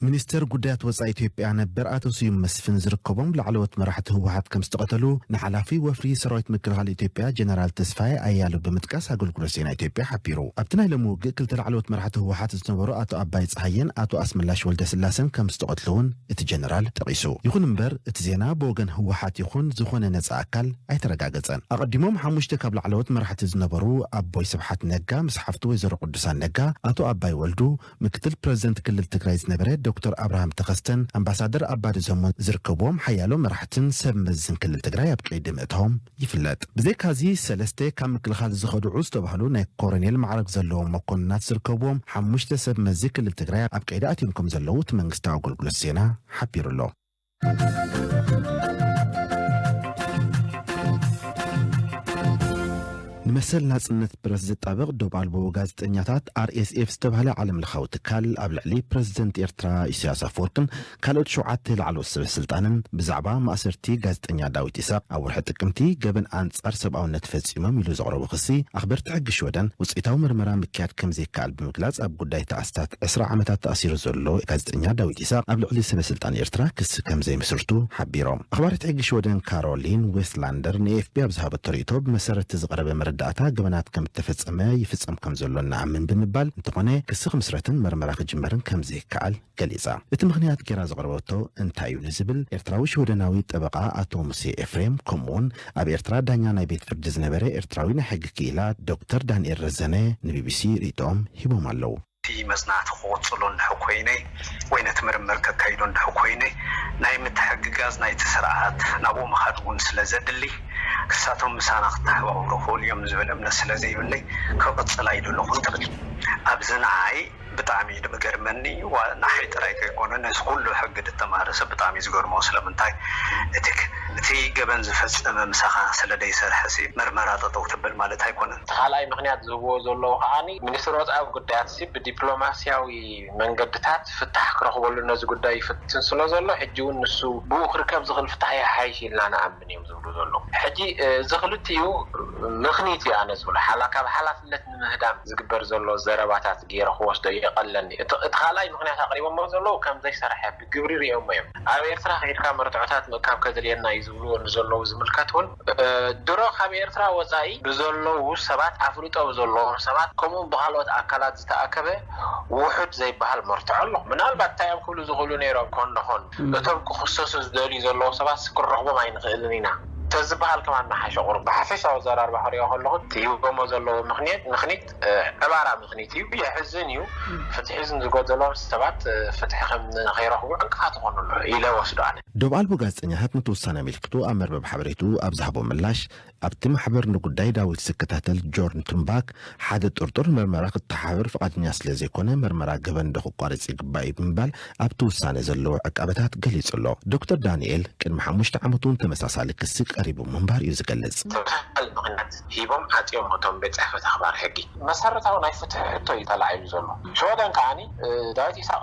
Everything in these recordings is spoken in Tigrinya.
ሚኒስተር ጉዳያት ወፃኢ ኢትዮጵያ ነበር ኣቶ ስዩም መስፍን ዝርከቦም ላዕለዎት መራሕቲ ህወሓት ከም ዝተቐተሉ ንሓላፊ ወፍሪ ሰራዊት ምክልኻል ኢትዮጵያ ጀነራል ተስፋዬ ኣያሉ ብምጥቃስ ኣገልግሎት ዜና ኢትዮጵያ ሓቢሩ። ኣብቲ ናይ ሎሚ ውግእ ክልተ ላዕለዎት መራሕቲ ህወሓት ዝነበሩ ኣቶ ኣባይ ፀሃየን ኣቶ ኣስመላሽ ወልደስላሰን ከምዝተቐትሉ እውን እቲ ጀነራል ጠቒሱ። ይኹን እምበር እቲ ዜና ብወገን ህወሓት ይኹን ዝኾነ ነፃ ኣካል ኣይተረጋገፀን። ኣቐዲሞም ሓሙሽተ ካብ ላዕለዎት መራሕቲ ዝነበሩ ኣቦይ ስብሓት ነጋ ምስ ሓፍቱ ወይዘሮ ቅዱሳን ነጋ፣ ኣቶ ኣባይ ወልዱ፣ ምክትል ፕረዚደንት ክልል ትግራይ ዝነበረ ዶክተር ኣብርሃም ተኸስተን ኣምባሳደር ኣባዲ ዘሞን ዝርከቡዎም ሓያሎ መራሕትን ሰብ መዝን ክልል ትግራይ ኣብ ቀይዲ ምእታዎም ይፍለጥ። ብዘይካዚ ሰለስተ ካብ ምክልኻል ዝኸድዑ ዝተባህሉ ናይ ኮረኔል ማዕረግ ዘለዎም መኮንናት ዝርከብዎም ሓሙሽተ ሰብ መዚ ክልል ትግራይ ኣብ ቀይዲ ኣትዮም ከምዘለዉ እቲ መንግስታዊ ኣገልግሎት ዜና ሓቢሩ'ሎ። ንመሰል ናጽነት ፕረስ ዝጣበቕ ዶብ ኣልቦ ጋዜጠኛታት፣ RSF፣ ዝተባህለ ዓለምለኻዊ ትካል ኣብ ልዕሊ ፕረዚደንት ኤርትራ ኢሳያስ ኣፈወርቅን ካልኦት ሸውዓተ ላዕለዎት ሰበስልጣንን ብዛዕባ ማእሰርቲ ጋዜጠኛ ዳዊት ኢሳቕ ኣብ ወርሒ ጥቅምቲ ገበን ኣንጻር ሰብኣውነት ፈጺሞም ኢሉ ዘቕረቦ ክሲ ኣኽበርቲ ሕጊ ሽወደን ውጽኢታዊ ምርመራ ምክያድ ከምዘይከኣል ብምግላጽ ኣብ ጉዳይ እቲ ኣስታት ዕስራ ዓመታት ተኣሲሩ ዘሎ ጋዜጠኛ ዳዊት ኢሳቕ ኣብ ልዕሊ ሰበስልጣን ኤርትራ ክሲ ከምዘይምስርቱ ሓቢሮም። ኣኽባሪት ሕጊ ሽወደን ካሮሊን ዌስትላንደር ንኤኤፍፒ ኣብ ዝሃበቶ ርእይቶ ብመሰረት እቲ ዝቐረበ መረዳእታ ገበናት ከምእተፈጸመ ይፍጸም ከምዘሎ ንኣምን ብምባል እንተኾነ ክሲ ክምስረትን መርመራ ክጅመርን ከምዘይከኣል ገሊጻ። እቲ ምኽንያት ጌራ ዘቕረበቶ እንታይ እዩ ንዝብል፣ ኤርትራዊ ሽወደናዊ ጠበቓ ኣቶ ሙሴ ኤፍሬም፣ ከምኡ'ውን ኣብ ኤርትራ ዳኛ ናይ ቤት ፍርዲ ዝነበረ ኤርትራዊ ናይ ሕጊ ክኢላ ዶክተር ዳንኤል ረዘነ ንቢቢሲ ርእይቶኦም ሂቦም ኣለዉ። እቲ መጽናዕቲ ክቕጽሎ እንድሕ ኮይነ ወይ ነቲ ምርምር ከካይዶ እንድሕ ኮይነ፣ ናይ ምትሕግጋዝ ናይቲ ስርዓት ናብኡ ምኻድ እውን ስለ ዘድሊ፣ ንሳቶም ምሳና ክተሓባበሩ ይኽእሉ እዮም ዝብል እምነት ስለ ዘይብለይ ክቕጽል ኣይደለኹን ትብል። ኣብዚ ንዓይ። ብጣዕሚ እዩ ልምገርመኒ ንዓይ ጥራይ ከይኮነ ነዚ ኩሉ ሕጊ ልተማህረ ሰብ ብጣዕሚ እዩ ዝገርሞ ስለምንታይ እቲ እቲ ገበን ዝፈጸመ ምሳኻ ስለ ደይሰርሐሲ ምርመራ ጠጠው ተበል ማለት ኣይኮነን። እቲ ካልኣይ ምክንያት ዝህብዎ ዘለዉ ከኣ ሚኒስትሪ ወጻኢ ጉዳያትሲ ብዲፕሎማሲያዊ መንገድታት ፍታሕ ክረኽበሉ ነዚ ጉዳይ ይፍትን ስለ ዘሎ ሕጂ ውን ንሱ ብኡ ክርከብ ዝኽእል ፍታሕ ይሓይሽ ኢልና ንኣምን። ኣይንረክብን እዮም ዝብሉ ዘለዉ ሕጂ እዚ ክልቲኡ ምኽኒት እዩ ኣነ ዝብሎ ሓላ ካብ ሓላፍነት ንምህዳም ዝግበር ዘሎ ዘረባታት ጌረ ክወስዶ ይቀለኒ እቲ እቲ ካልኣይ ምኽንያት ኣቅሪቦሞ ዘለዉ ከም ዘይሰርሐ ብግብሪ ሪኦሞ እዮም ኣብ ኤርትራ ኪድካ መርትዖታት ምእካብ ከድልየና እዩ ዝብልዎ ንዘለዉ ዝምልከት ውን ድሮ ካብ ኤርትራ ወጻኢ ብዘለዉ ሰባት ኣፍልጦ ብዘለዎም ሰባት ከምኡ ውን ብካልኦት ኣካላት ዝተኣከበ ዉሑድ ዘይበሃል መርትዖ ኣሎ ምናልባት እንታይ እዮም ክብሉ ዝኽእሉ ኔሮም ኮን ደኾን እቶም ክኽሰሱ ዝደልዩ ዘለዉ ሰባትስ ክንረኽቦም ኣይንኽእልን ኢና ተዝበሃል ከማን ምሓሸ ቁሩብ ብሓፈሻዊ ኣዘራርባ ክሪኦ ከለኹ እቲ ሂቦሞ ዘለዉ ምኽንየት ምኽኒት ዕባራ ምኽኒት እዩ የሕዝን እዩ ፍትሒ ዝጎደሎም ሰባት ፍትሒ ከም ንኸይረኽቡ ዕንቅፋት ይኾኑ ኣለዉ ኢለ እወስዶ ኣነ። ዶብ ኣልቦ ጋዜጠኛታት ነቲ ውሳነ ኣመልኪቱ ኣብ መርበብ ሓበሬትኡ ኣብ ዝሃቦ ምላሽ፣ ኣብቲ ማሕበር ንጉዳይ ዳዊት ዝከታተል ጆርን ቱንባክ፣ ሓደ ጥርጡር መርመራ ክተሓባበር ፍቓደኛ ስለ ዘይኮነ መርመራ ገበን ዶ ክቋረጽ ይግባእ እዩ ብምባል ኣብቲ ውሳነ ዘለዎ ዕቃበታት ገሊጹ ኣሎ። ዶክተር ዳንኤል ቅድሚ ሓሙሽተ ዓመት እውን ተመሳሳሊ ክሲ ቀሪቡ ምንባሩ እዩ ዝገልጽ። ትካል ምኽንያት ሂቦም ዓጽዮሞ እቶም ቤት ጽሕፈት ኣኽባር ሕጊ። መሰረታዊ ናይ ፍትሒ ሕቶ እዩ ተላዒሉ ዘሎ። ሽወደን ከኣ ዳዊት ኢሳቕ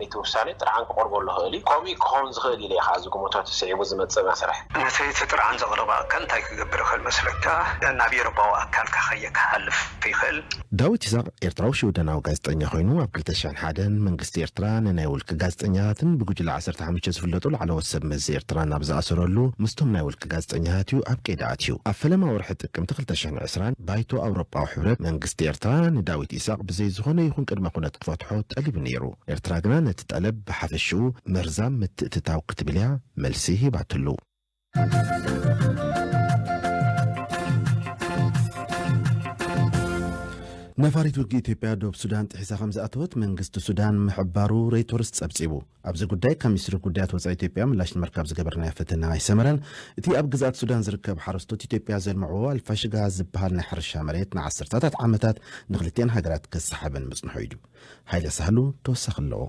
ነቲ ውሳኔ ጥርዓን ክቐርበሉ ይኽእል እዩ። ከምኡ ክኸውን ዝኽእል ኢለ እየ ከኣ ዝግምቶ እቲ ስዒቡ ዝመጽእ መስርሕ። ነቲ እቲ ጥርዓን ዘቕረበ ኣካል እንታይ ክገብር ይኽእል መስለካ? ናብ ኤውሮጳዊ ኣካልካ ከየ ክሓልፍ ይኽእል። ዳዊት ኢሳቕ ኤርትራዊ ሽወደናዊ ጋዜጠኛ ኮይኑ ኣብ ክልተ ሽሕን ሓደን መንግስቲ ኤርትራ ንናይ ውልቂ ጋዜጠኛታትን ብጉጅለ ዓሰርተ ሓሙሽተ ዝፍለጡ ላዕለዎት ሰብ መዚ ኤርትራን ኣብ ዝኣሰረሉ ምስቶም ናይ ውልቂ ጋዜጠኛታት እዩ ኣብ ቀይዲ ኣትዩ። ኣብ ፈለማ ወርሒ ጥቅምቲ ክልተ ሽሕን ዕስራን ባይቶ ኣውሮጳዊ ሕብረት መንግስቲ ኤርትራ ንዳዊት ኢሳቕ ብዘይ ዝኾነ ይኹን ቅድመ ኩነት ክፈትሖ ጠሊቡ ነይሩ። ኤርትራ ግና ነቲ ጠለብ ብሓፈሽኡ መርዛም ምትእትታው ክትብል እያ መልሲ ሂባትሉ። ነፋሪት ውግእ ኢትዮጵያ ዶብ ሱዳን ጥሒሳ ከምዝኣተወት መንግስቲ ሱዳን ምሕባሩ ሮይቶርስ ጸብጺቡ። ኣብዚ ጉዳይ ካብ ሚኒስትሪ ጉዳያት ወፃኢ ኢትዮጵያ ምላሽ ንምርካብ ዝገበርናዮ ፈተነ ኣይሰመረን። እቲ ኣብ ግዝኣት ሱዳን ዝርከብ ሓረስቶት ኢትዮጵያ ዘልምዕዎ ኣልፋሽጋ ዝበሃል ናይ ሕርሻ መሬት ንዓሰርታታት ዓመታት ንኽልቲኣን ሃገራት ከሰሓበን ምፅንሑ እዩ። ሃይለ ሳህሉ ተወሳኺ ኣለዎ።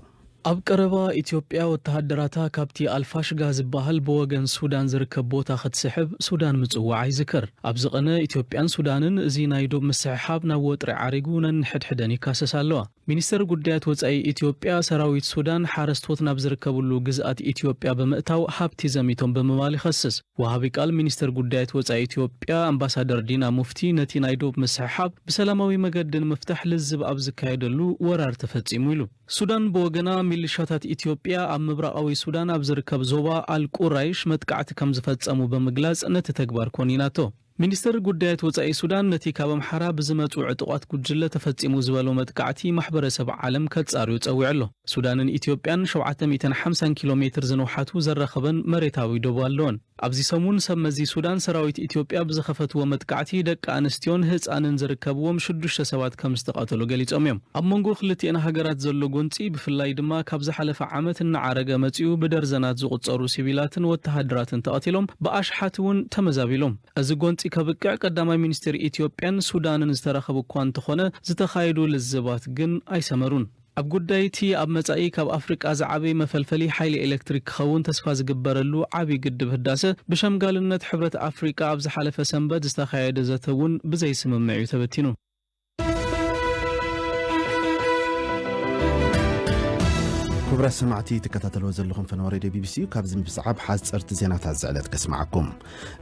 ኣብ ቀረባ ኢትዮጵያ ወተሃደራታ ካብቲ ኣልፋሽጋ ዝበሃል ብወገን ሱዳን ዝርከብ ቦታ ክትስሕብ ሱዳን ምፅዋዓ ይዝከር። ኣብዚ ቕነ ኢትዮጵያን ሱዳንን እዚ ናይ ዶብ ምስሕሓብ ናብ ወጥሪ ዓሪጉ ነንሕድሕደን ይካሰሳ ኣለዋ። ሚኒስተር ጉዳያት ወጻኢ ኢትዮጵያ፣ ሰራዊት ሱዳን ሓረስቶት ናብ ዝርከብሉ ግዝኣት ኢትዮጵያ ብምእታው ሃብቲ ዘሚቶም ብምባል ይኸስስ። ወሃቢ ቃል ሚኒስተር ጉዳያት ወጻኢ ኢትዮጵያ ኣምባሳደር ዲና ሙፍቲ ነቲ ናይ ዶብ ምስሕሓብ ብሰላማዊ መገዲ ንምፍታሕ ልዝብ ኣብ ዝካየደሉ ወራር ተፈጺሙ ኢሉ። ሱዳን ብወገና ሚልሻታት ኢትዮጵያ ኣብ ምብራቓዊ ሱዳን ኣብ ዝርከብ ዞባ ኣል ቁራይሽ መጥቃዕቲ ከምዝፈጸሙ ብምግላጽ ነቲ ተግባር ኮኒናቶ። ሚኒስትሪ ጉዳያት ወጻኢ ሱዳን ነቲ ካብ ኣምሓራ ብዝመጹ ዕጡቓት ጉጅለ ተፈጺሙ ዝበሎ መጥቃዕቲ ማሕበረሰብ ዓለም ከጻርዮ ጸዊዑ ኣሎ። ሱዳንን ኢትዮጵያን ሸውዓተ ሚእትን ሓምሳን ኪሎ ሜትር ዝንውሓቱ ዘራኽበን መሬታዊ ዶብ ኣለወን። ኣብዚ ሰሙን ሰብ መዚ ሱዳን ሰራዊት ኢትዮጵያ ብዝኸፈትዎ መጥቃዕቲ ደቂ ኣንስትዮን ህጻንን ዝርከብዎም ሽዱሽተ ሰባት ከምዝተቐተሉ ገሊጾም እዮም። ኣብ መንጎ ክልቲኤን ሃገራት ዘሎ ጎንጺ ብፍላይ ድማ ካብ ዝሓለፈ ዓመት እናዓረገ መጺኡ ብደርዘናት ዝቑጸሩ ሲቪላትን ወተሃደራትን ተቐቲሎም ብኣሽሓት እውን ተመዛቢሎም። እዚ ጎንጺ ከብቅዕ ቀዳማይ ሚኒስትር ኢትዮጵያን ሱዳንን ዝተራኸቡ እኳ እንተኾነ ዝተኻየዱ ልዝባት ግን ኣይሰመሩን። ኣብ ጉዳይ እቲ ኣብ መጻኢ ካብ ኣፍሪቃ ዝዓብይ መፈልፈሊ ሓይሊ ኤሌክትሪክ ክኸውን ተስፋ ዝግበረሉ ዓብይ ግድብ ህዳሰ ብሸምጋልነት ሕብረት ኣፍሪቃ ኣብ ዝሓለፈ ሰንበት ዝተኻየደ ዘተ እውን ብዘይስምምዕ እዩ ተበቲኑ። ክቡራት ሰማዕቲ ትከታተልዎ ዘለኹም ፈነወ ሬድዮ ቢቢሲ እዩ ካብዚ ምስዓብ ሓፀርቲ ዜናታት ዝዕለት ከስማዓኩም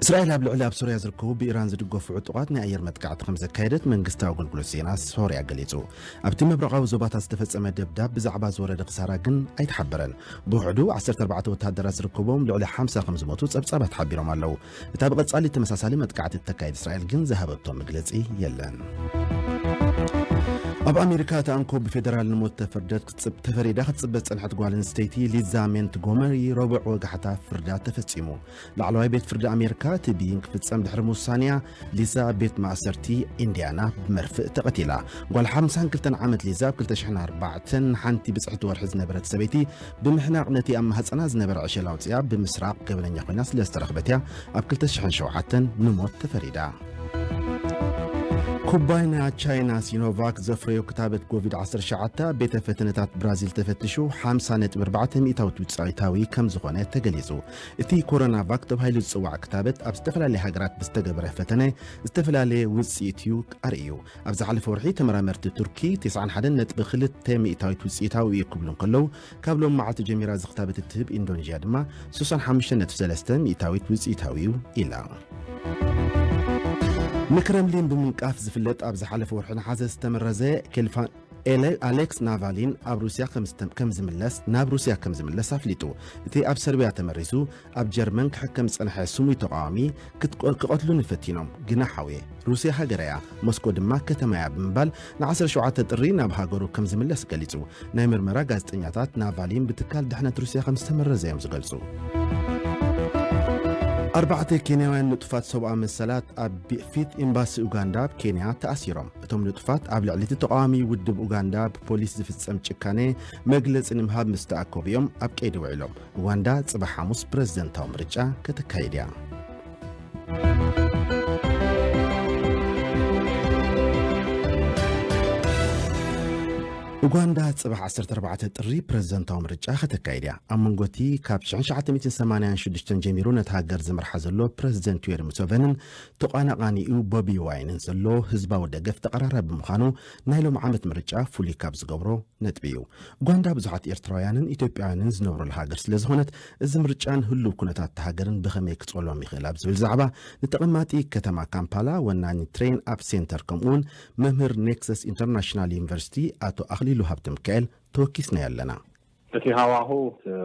እስራኤል ኣብ ልዕሊ ኣብ ሶርያ ዝርከቡ ብኢራን ዝድገፉ ዕጡቓት ናይ ኣየር መጥቃዕቲ ከም ዘካየደት መንግስታዊ ኣገልግሎት ዜና ሶርያ ገሊጹ ኣብቲ ምብራቓዊ ዞባታት ዝተፈጸመ ደብዳብ ብዛዕባ ዝወረደ ክሳራ ግን ኣይተሓበረን ብውሕዱ 14 ወተሃደራት ዝርከቦም ልዕሊ 50 ከም ዝሞቱ ጸብጻባት ሓቢሮም ኣለዉ እታ ብቐጻሊ ተመሳሳሊ መጥቃዕቲ እተካይድ እስራኤል ግን ዝሃበቶ መግለጺ የለን። ኣብ ኣሜሪካ እቲ ኣንኮ ብፌደራል ንሞት ተፈርደት ተፈሪዳ ክትፅበ ዝፀንሐት ጓል ኣንስተይቲ ሊዛ ሜንት ጎመሪ ረቡዕ ወጋሕታ ፍርዳ ተፈፂሙ ላዕለዋይ ቤት ፍርዲ ኣሜሪካ እቲ ብይን ክፍፀም ድሕሪ ምውሳንያ ሊዛ ኣብ ቤት ማእሰርቲ ኢንድያና ብመርፍእ ተቐቲላ ጓል 52 ዓመት ሊዛ ኣብ 2004 ንሓንቲ ብፅሕቲ ወርሒ ዝነበረት ሰበይቲ ብምሕናቕ ነቲ ኣብ ማህጸና ዝነበረ ዕሸል ኣውጺኣ ብምስራቕ ገበነኛ ኮይና ስለ ዝተረኽበት እያ ኣብ ክልተ ሽሕን ሸውዓተን ንሞት ተፈሪዳ። ኩባይና ቻይና ሲኖቫክ ዘፍረዮ ክታበት ኮቪድ ዓሰርተ ትሽዓተ ኣብ ቤተ ፈተነታት ብራዚል ተፈትሹ ሓምሳ ነጥቢ ኣርባዕተ ሚእታዊት ውጽኢታዊ ከም ዝኾነ ተገሊጹ። እቲ ኮሮናቫክ ተባሂሉ ዝጽዋዕ ክታበት ኣብ ዝተፈላለየ ሃገራት ብዝተገበረ ፈተነ ዝተፈላለየ ውጽኢት እዩ ኣርእዩ። ኣብ ዝሓለፈ ወርሒ ተመራመርቲ ቱርኪ 91.2 ሚእታዊት ውፅኢታዊ እዩ ክብሉ እንከለዉ ካብ ሎም መዓልቲ ጀሚራ እዚ ክታበት እትህብ ኢንዶኔዥያ ድማ 65.3 ሚእታዊት ውፅኢታዊ እዩ ኢላ። ንክረምሊን ብምንቃፍ ዝፍለጥ ኣብ ዝሓለፈ ወርሒ ነሓሰ ዝተመረዘ ኬልፋን ኣሌክስ ናቫሊን ኣብ ሩስያ ከም ዝምለስ ናብ ሩስያ ከም ዝምለስ ኣፍሊጡ እቲ ኣብ ሰርቢያ ተመሪዙ ኣብ ጀርመን ክሕከም ዝጸንሐ ስሙይ ተቓዋሚ ክቐትሉኒ ፈቲኖም ግና ሓውየ። ሩስያ ሃገረያ፣ ሞስኮ ድማ ከተማያ ብምባል ን ዓሰርተ ሸውዓተ ጥሪ ናብ ሃገሩ ከም ዝምለስ ገሊጹ። ናይ ምርመራ ጋዜጠኛታት ናቫሊን ብትካል ድሕነት ሩስያ ከም ዝተመረዘ'ዮም ዝገልጹ። ኣርባዕተ ኬንያውያን ንጡፋት ሰብኣዊ መሰላት ኣብ ፊት ኤምባሲ ኡጋንዳ ኣብ ኬንያ ተኣሲሮም። እቶም ንጡፋት ኣብ ልዕሊ እቲ ተቓዋሚ ውድብ ኡጋንዳ ብፖሊስ ዝፍጸም ጭካነ መግለጺ ንምሃብ ምስ ተኣከቡ'ዮም ኣብ ቀይዲ ውዒሎም። ሩዋንዳ ጽባሕ ሓሙስ ፕረዚደንታዊ ምርጫ ከተካይድ እያ። ኡጋንዳ ጽባሕ 14 ጥሪ ፕረዚደንታዊ ምርጫ ከተካይድ እያ ኣብ መንጎ እቲ ካብ 1986 ጀሚሩ ነቲ ሃገር ዝመርሓ ዘሎ ፕረዚደንት ዩዌሪ ሙሴቨንን ተቋናቓኒኡ ቦቢ ዋይንን ዘሎ ህዝባዊ ደገፍ ተቐራራቢ ምዃኑ ናይ ሎም ዓመት ምርጫ ፍሉይ ካብ ዝገብሮ ነጥቢ እዩ። ኡጋንዳ ብዙሓት ኤርትራውያንን ኢትዮጵያውያንን ዝነብሩላ ሃገር ስለ ዝኾነት፣ እዚ ምርጫን ህሉው ኩነታት እታ ሃገርን ብኸመይ ክጸሎም ይኽእል ኣብ ዝብል ዛዕባ፣ ንተቐማጢ ከተማ ካምፓላ ወናኒ ትሬን ኣፕ ሴንተር ከምኡ'ውን መምህር ኔክሰስ ኢንተርናሽናል ዩኒቨርሲቲ ኣቶ ኣኽሊሉ ሃብተሚካኤል ተወኪስናዮ ኣለና። እቲ ሃዋህው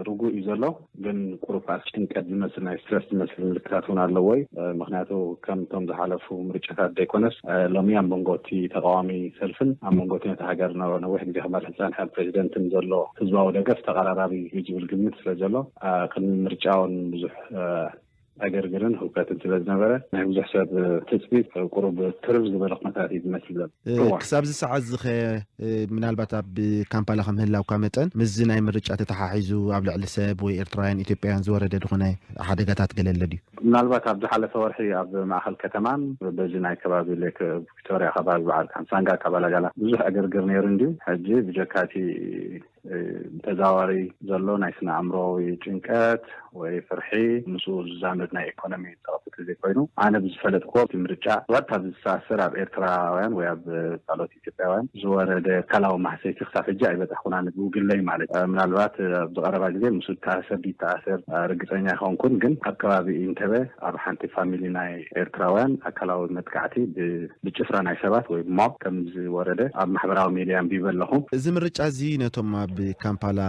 ርጉእ እዩ ዘሎ። ግን ቁሩብ ከኣ ጭንቀት ዝመስል ናይ ስትረስ ዝመስል ምልክታት እውን ኣለዎ እዩ። ምኽንያቱ ከምቶም ዝሓለፉ ምርጫታት ዘይኮነስ ሎሚ ኣብ መንጎ እቲ ተቓዋሚ ሰልፍን ኣብ መንጎ እቲ ነታ ሃገር ንነዊሕ ግዜ ክመርሕ ዝጸንሐ ፕረዚደንትን ዘሎ ህዝባዊ ደገፍ ተቐራራቢ እዩ ዝብል ግምት ስለዘሎ ቅድሚ ምርጫ እውን ብዙሕ ዕግርግርን ህውከትን ስለዝነበረ ናይ ብዙሕ ሰብ ትጽቢት ቁሩብ ትርር ዝበለ ኩነታት እዩ ዝመስል ዘሎ። እዋእ! ክሳብዚ ሰዓትዚኸ ምናልባት ኣብ ካምፓላ ከም ምህላውካ መጠን ምስዚ ናይ ምርጫ ተተሓሒዙ ኣብ ልዕሊ ሰብ ወይ ኤርትራውያን ኢትዮጵያውያን ዝወረደ ዝኾነ ሓደጋታት ገለ ኣሎ ድዩ? ምናልባት ኣብ ዝሓለፈ ወርሒ ኣብ ማእኸል ከተማን በዚ ናይ ከባቢ ሌክ ቪክቶርያ ከባቢ በዓል ካምሳንጋ ካባላጋላ ብዙሕ ዕግርግር ነይሩ እንድዩ። ሕጂ ብጀካ እቲ ብተዛዋሪ ዘሎ ናይ ስነ ኣእምሮዊ ጭንቀት ወይ ፍርሒ ምስኡ ዝዛመድ ናይ ኤኮኖሚ ጸቕጢ ተዘይኮይኑ ኣነ ብዝፈለጥክዎ እቲ ምርጫ ብቐጥታ ብዝተኣሰር ኣብ ኤርትራውያን ወይ ኣብ ካልኦት ኢትዮጵያውያን ዝወረደ ኣካላዊ ማህሰይቲ ክሳብ ሕጂ ኣይበጻሕኩን ኣነ ብግለይ ማለት እዩ። ምናልባት ኣብዚ ቀረባ ግዜ ምስ ተኣሰር ድይተኣሰር ርግጸኛ ኣይኮንኩን ግን ኣብ ከባቢ ኢንተበ ኣብ ሓንቲ ፋሚሊ ናይ ኤርትራውያን ኣካላዊ መጥቃዕቲ ብጭፍራ ናይ ሰባት ወይ ሞብ ከም ዝወረደ ኣብ ማሕበራዊ ሜድያ ኣንቢበ ኣለኹ። እዚ ምርጫ እዚ ነቶም ኣብ ካምፓላ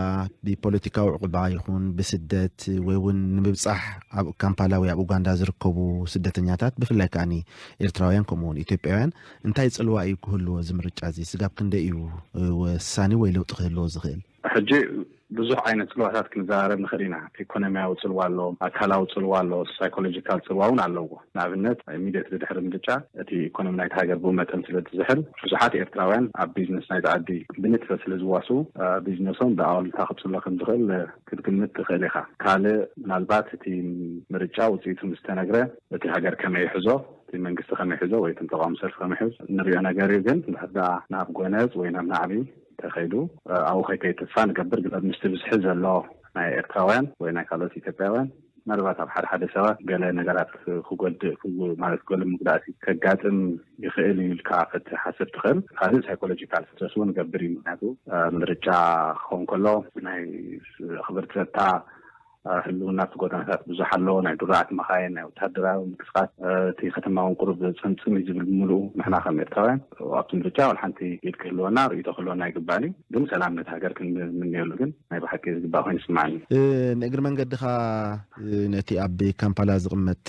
ብፖለቲካዊ ዑቕባ ይኹን ብስደት ወይ እውን ንምብጻሕ ኣብ ካምፓላ ወይ ኣብ ኡጋንዳ ዝርከቡ ስደተኛታት ብፍላይ ከኣ ኤርትራውያን ከምኡ እውን ኢትዮጵያውያን እንታይ ጽልዋ እዩ ክህልዎ እዚ ምርጫ እዚ ስጋብ ክንደይ እዩ ወሳኒ ወይ ለውጢ ክህልዎ ዝኽእል? ሕጂ ብዙሕ ዓይነት ጽልዋታት ክንዘራረብ ንኽእል ኢና። ኤኮኖሚያዊ ጽልዋ ኣሎ፣ ኣካላዊ ጽልዋ ኣሎ፣ ሳይኮሎጂካል ጽልዋ እውን ኣለዎ። ንኣብነት ኢሚድየትሊ ድሕሪ ምርጫ እቲ ኤኮኖሚ ናይታ ሃገር ብኡ መጠን ስለ ዝዝሕል ብዙሓት ኤርትራውያን ኣብ ቢዝነስ ናይዚ ዓዲ ብንጥፈት ስለ ዝዋስኡ ቢዝነሶም ብኣወልታ ክጽሎ ከም ዝኽእል ክትግምት ትኽእል ኢኻ። ካልእ ምናልባት እቲ ምርጫ ውጽኢቱ ምስ ተነግረ እቲ ሃገር ከመይ ይሕዞ፣ እቲ መንግስቲ ከመይ ይሕዞ ወይ እቶም ተቓዋሚ ሰልፊ ከመይ ይሕዙ እንርእዮ ነገር እዩ። ግን እንድሕር ደኣ ናብ ጎነጽ ወይ ናብ ናዕቢ፣ ተኸይዱ ኣብኡ ከይከይድ ተስፋ ንገብር ግን ምስቲ ብዝሒ ዘሎ ናይ ኤርትራውያን ወይ ናይ ካልኦት ኢትዮጵያውያን ምናልባት ኣብ ሓደ ሓደ ሰባት ገለ ነገራት ክጎድእ ማለት ገለ መጉዳእቲ ከጋጥም ይኽእል እዩ ኢልካ ክትሓስብ ትኽእል ካልእ ሳይኮሎጂካል ስትረስ እውን ይገብር እዩ ምክንያቱ ምርጫ ክኸውን ከሎ ናይ ኣኽበርቲ ጸጥታ ህልውና እቲ ጎደናታት ብዙሕ ኣሎ፣ ናይ ድሩዓት መኻይን፣ ናይ ወተሃደራዊ ምንቅስቓስ፣ እቲ ከተማ እውን ቁሩብ ጽምጽም እዩ ዝብል ብምሉኡ። ንሕና ከም ኤርትራውያን ኣብቲ ምርጫ ዋላ ሓንቲ ኢድ ክህልወና ርእይቶ ክህልወና ኣይግባእን እዩ፣ ግን ሰላም ነታ ሃገር ክንምነየሉ ግን ናይ ብሓቂ ዝግባእ ኮይኑ ይስምዓኒ። ንእግሪ መንገድኻ ነቲ ኣብ ካምፓላ ዝቕመጥ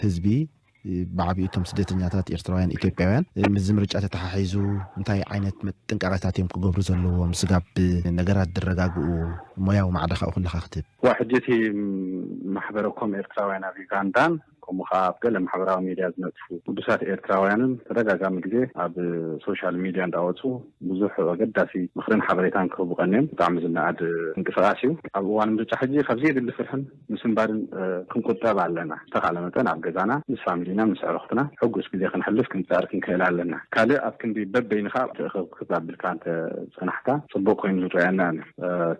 ህዝቢ ብዓቢኡ እቶም ስደተኛታት ኤርትራውያን ኢትዮጵያውያን ምስዚ ምርጫ ተተሓሒዙ እንታይ ዓይነት ጥንቃቐታት እዮም ክገብሩ ዘለዎም ስጋብ ነገራት ዝረጋግኡ ሞያዊ ማዕዳ ካብኡ ክለኻ ክትብ እዋ ሕጂ እቲ ማሕበረ ኮም ኤርትራውያን ኣብ ዩጋንዳን ከምኡ ከኣ ኣብ ገለ ማሕበራዊ ሜድያ ዝነጥፉ ግዱሳት ኤርትራውያንን ተደጋጋሚ ግዜ ኣብ ሶሻል ሚድያ እንዳወጹ ብዙሕ ኣገዳሲ ምኽርን ሓበሬታን ክህቡ ቀንዮም ብጣዕሚ ዝነኣድ ምንቅስቓስ እዩ ኣብ እዋን ምርጫ ሕጂ ካብዘየድሊ ፍርሕን ምስንባድን ክንቁጠብ ኣለና ዝተኻለ መጠን ኣብ ገዛና ምስ ፋሚሊና ምስ ኣዕሩኽትና ሕጉስ ግዜ ክንሕልፍ ክንጽዕር ክንክእል ኣለና ካልእ ኣብ ክንዲ በበይንኻ ትእኽብክብ ኣብልካ እንተ ጸናሕካ ጽቡቕ ኮይኑ ዝረኣየና ኣነ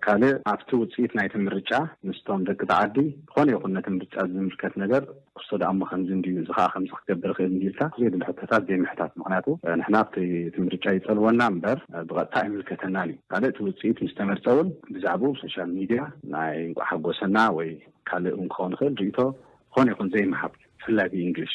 ካልእ ኣብቲ ውጽኢት ናይቲ ምርጫ ምስቶም ደቂ ተዓዲ ዝኾነ ይኹን ነቲ ምርጫ ዝምልከት ነገር ክርስቶ ድኣ እሞ ከምዚ እንድዩ እዚ ከኣ ከምዚ ክገብር ይኽእል እንድዩ ኢልካ ዘየድሊ ሕቶታት ዘይምሕታት ምኽንያቱ ንሕና ኣብቲ እቲ ምርጫ ይጸልወና እምበር ብቐጥታ ኣይምልከተናን እዩ ካልእ እቲ ውጽኢት ምስ ተመርጸ እውን ብዛዕብኡ ብ ሶሻል ሚድያ ናይ እንቋዕ ሓጎሰና ወይ ካልእ እውን ክኸውን ይኽእል ርእይቶ ዝኾነ ይኹን ዘይምሃብ ብፍላይ ብኢንግሊሽ